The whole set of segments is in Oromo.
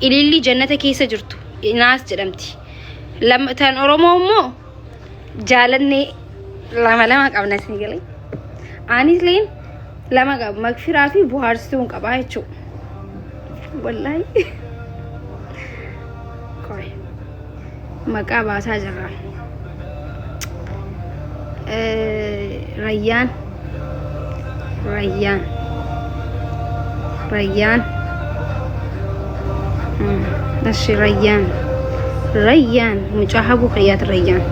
ilillii jannata keessa jirtu inaas jedhamti Lam- tan oromoo immoo jaalannee lama lama qabna isin galee anis leen lama qaba magfiraa fi buhaarsituu hin qabaa jechuu wallaahi Qoy. maqaa baasaa jirra. Rayyaan Rayyaan Rayyaan Ashi Rayyaan Rayyaan mucaa habuu kiyyaati Rayyaan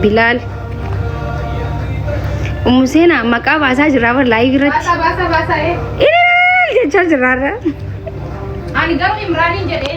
Bilaal Ummu Seenaa maqaa baasaa jirra bar laayivii irratti Baasaa baasaa baasaa ee. ilaal jechaa jirra irra. Ani garuu Imraaniin jedhee.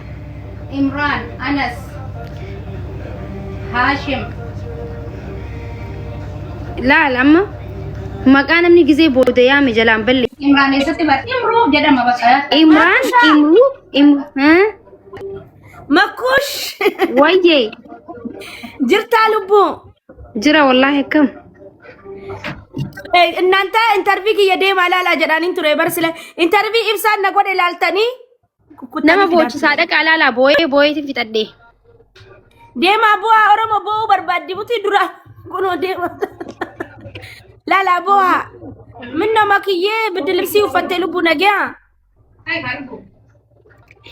Imraan, Anas, Haashim. Laal amma maqaa namni gizee booda yaame jalaan balle. Imraan eessatti bar Imruu jedhama bakka. Imraan, Imruu, Imruu. Haa? Makkuush Wayyee jirtaa lubbuu. jira wallaahi akkam. Eh, Innanta intarvii kiyya deemaa ilaalaa jedhaaniin ture barsile. Intarvii ibsaan na godhe ilaaltanii Nama boochisaa dhaqaa laalaa booyee booyeetiin fixadhee. Deemaa bu'aa Oromoo bu'uu barbaaddi butii dura kunoo deema. Laalaa bu'aa. Minna makiyyee biddi libsii uffattee lubbuu nagaa.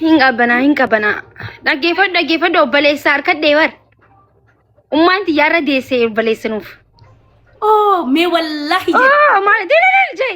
Hin qabbanaa hin qabbanaa. Dhaggeeffadhu dhaggeeffadhu obboleessaa harkadhee bar. Ummaan xiyyaarra deessee obboleessinuuf. Oo mee wallaahi jedhe. Oh, maal diriirii jee.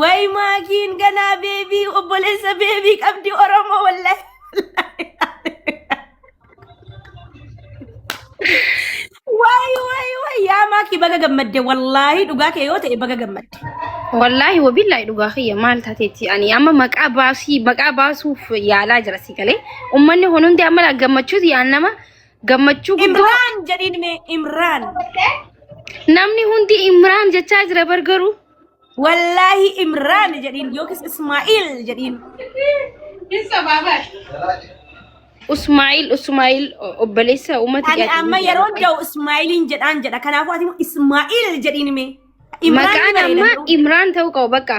Way maakiin ganaa beebii obboleessa beebii qabdi Oromoo wallahi. Way way way yaa maakii baga gammadde wallaahi dhugaa kee yoo ta'e baga gammadde. Wallaahi wabillahi dhugaa kiyya maal taateetti ani amma maqaa baasii maqaa baasuuf yaalaa jira si galee ummanni kun hundi amma gammachuuti yaan nama Gammachuu guddaa. Imraan jedhiin mee Imraan. Namni hundi Imraan jechaa jira bar garuu. Wallaahi Imraan jedhiin yookiis Ismaa'il jedhiin. Usmaa'il Usmaa'il o- obboleessa uummata Ani Qaaxilii amma jedhama. yeroo jahu Ismaa'iliin jedhaan jedha. Kanaafuu ati immoo Ismaa'il jedhiin mee. Imraan Maqaan jedhanii amma danda'u. Imraan ta'uu qaba bakka.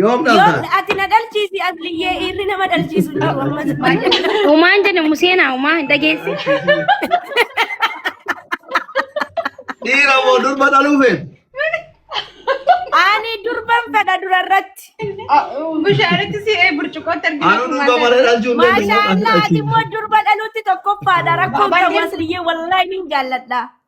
Yoom Yoon dhaltaan? ati na dhalchiisi asliyyee dhiirri nama dhalchiisu hin jiru ammas baay'ee. Umaan jedhe museenaa umaa hin dhageessi. Dhiira moo durba dhaluu feetu? Ani durban fedha durarratti. Bishaanitti si ee burcuqootti argina. Anuu durba malee dhalchuu hin dandeenye. Maashaa Allah ati immoo durba dhaluutti tokkoffaadha rakkoon qabu asliyyee wallaahi niin jaalladha.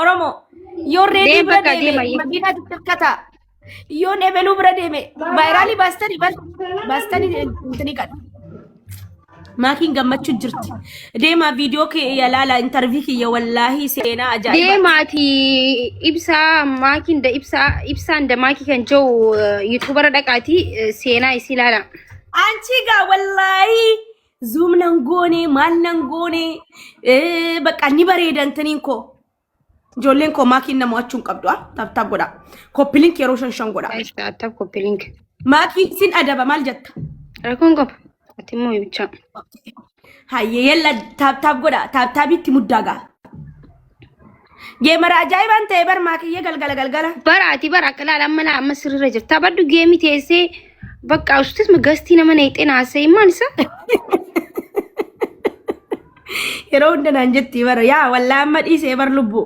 Oromoo yoo reedii Deem bira bakka deeme deema iyyuu. makiinaa xixiqqata. Yoo ebeluu bira deeme vaayiraalii baastanii bar baastanii intini qadha. Maakiin gammachuu jirti. Deemaa viidiyoo kee yalaala intarvii kiyya wallaahi seenaa ajaa'ibaa. Deemaati ibsaa maakiin da ibsaa ibsaan da maakii kan jiru yuutuubara dhaqaati seenaa isii ilaala. Anchi gaa wallaahi Zoom nan goone maal nan goone eh, bakka ni bareedan taniin koo. Ijoolleen koo maakiin na mo'achuu hin qabdu ah taaptaap godha. Koppilink yeroo shan shan godha. Guys, tap copy link. Maakii sin adaba maal jetta? Rakkoon qaba. Ati immoo ibichaa. Hayyee yalla taaptaap godha taaptaabitti muddaa ga'a. Geemara ajaa'ibaan ta'e bar maakiyya galgala galgala. Bara ati bara akka laala amma laa amma sirrirra jirta. Baddu geemii teessee bakka usutis gastii nama neexee naasee maal isa? Yeroo hunda naan jetti bara yaa wallaa amma dhiisee bar lubbu.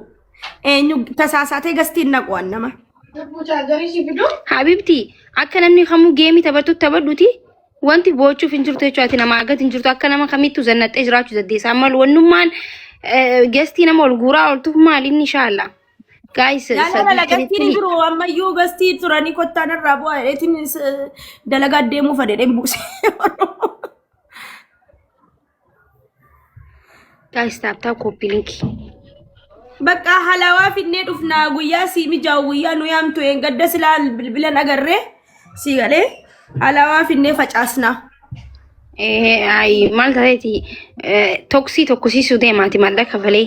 Eenyu tasaasaatee gastiin naquwan nama. Habiibti akka namni kamuu geemii taphattu taphadhuti Wanti boochuuf hin jirtu jechuudha. Ati nama argatu hin jirtu. Akka nama kamittuu zannaxxee jiraachuu dandeessa. Amma wannummaan gestii nama ol guuraa ooltuuf maali inni shaalla. Gaayis Laala lagattiin hin jiru ammayyuu gastii turanii kottaan irraa bu'aa dheetiin dalagaa deemuu fadhedheen buuse. Guys, tap tap copy link. Bakka halaawaa finnee dhufnaa guyyaa sii mijaa'u guyyaa nu yaamtu een gadda silaa bilbilan agarree sii galee halaawaa finnee facaasnaa. Eh, ay, maal tateeti toksii tokkosiisuu deemaati maallaqa kafalee.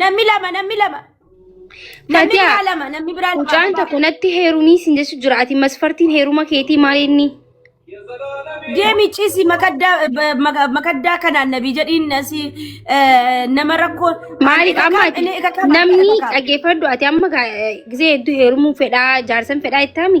Namni lama namni lama. Namni Fatiyaa, biraa lama namni biraa lama. Mucaan tokko natti heerumii siin jechu jira. Ati masfartiin heeruma keetii maal inni? Deemi ciisi makaddaa ba- maka- makaddaa kanaan nabii jedhiin asii eh, nama rakkoo. Maaliif amma ati Inni kakaafa, namni kakaafa. dhaggeeffadhu ati amma gaa- eh, gisee hedduu heerumuu fedhaa jaarsan fedhaa ittaami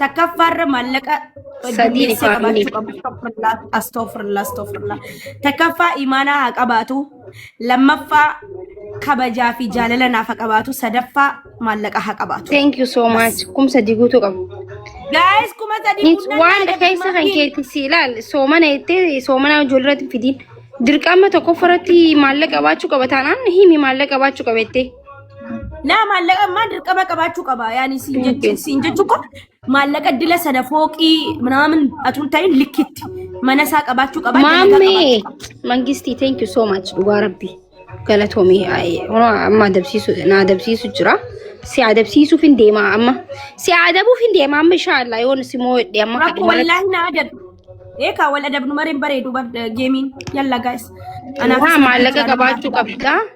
Takkaffaarra maallaqa gaggeessee qabaachuu qabu. Astofirlaa, astofirlaa, astofirlaa. Takkaffaa imaanaa haa qabaatu. Lammaffaa kabajaa fi jaalala naaf haa qabaatu. Sadaffaa maallaqa haa qabaatu. Thank you so much. Kumsa diguutu qabu. Gaa'es kuma sadii Nis guunnaa waan nyaata keessa kan birmatii. keetti si ilaal soomana jettee soomana ijoolleerratti fidiin. Dirqama tokkoffaratti maallaqa qabaachuu qaba taanaan himi maallaqa qabaachuu qabettee. Laa maallaqa ammaa dirqama qabaachuu qaba. Yaani siin jechuun siin jechuun kun maallaqa dila sana fooqii minaamin atuun ta'in likkitti mana isaa qabaachuu qaba. dalagaa qabaachuu Maammee qaba. mangistii thank you so much dhugaa rabbi galatoomii amma adabsiisu na adabsiisu jira si adabsiisuuf hin deemaa amma si adabuuf hin deemaa amma inshaallah yoon si moo jedhe amma Rakko kadhimara wallaahi na adab. Eekaa wal adabnu mareen bareedu bar geemiin yalla gaa'is. waa maallaqa qabaachuu qabda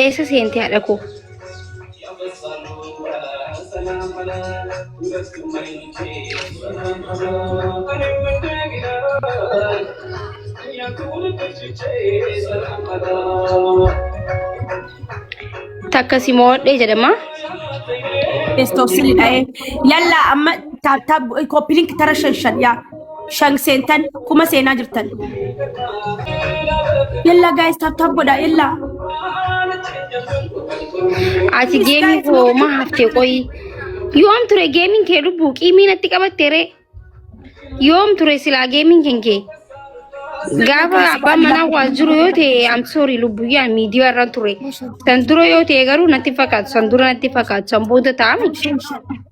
Eessa seente haadha koo? Takka si mo'adhee jedhama. Bestoofsili dha'ee. Yallaa amma koppilink tara shan shan yaa. shan seentan kuma seenaa jirtan yalla gaayis taaptaap godha yalla Ati geemii koo ma haftee qoyi. Yoom ture geemiin kee lubbuu qiimii natti qabatte ree. Yoom ture silaa geemiin kee kee. Gaafa abbaan manaa waa jiru yoo ta'e I'm sorry lubbuu yaa miidiyaa irra ture. San dura yoo ta'e garuu natti fakkaatu san dura natti fakkaatu san booda ta'ame.